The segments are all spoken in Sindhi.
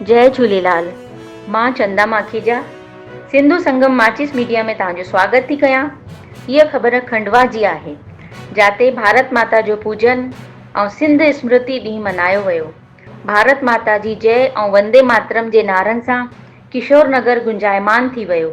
جئي جهوليلال مان چندا ماکيجا سنڌو سنگم ماچيس ميڊيا ۾ توهان جو سواگت ٿي ڪيان هيء خبر کنڊوا جي آهي جاتي ڀارت ماتا جو پوجن ۽ سنڌ اسمرتي ڏينهن منايو ويو ڀارت ماتا جي جئي ۽ وندي ماترم جي نعرن سان ڪشور نگر گونجائمان ٿي ويو.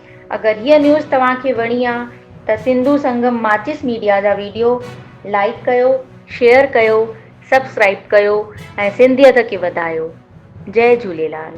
اگر هيء نيوز توهان کي وڻي آ ته سنڌو سنگم ماچس ميڊيا جا ويڊيو لائيڪ ڪيو شيئر ڪيو سبسڪرائيب ڪيو ۽ سنڌيت کي وڌايو جئي جهوليلال.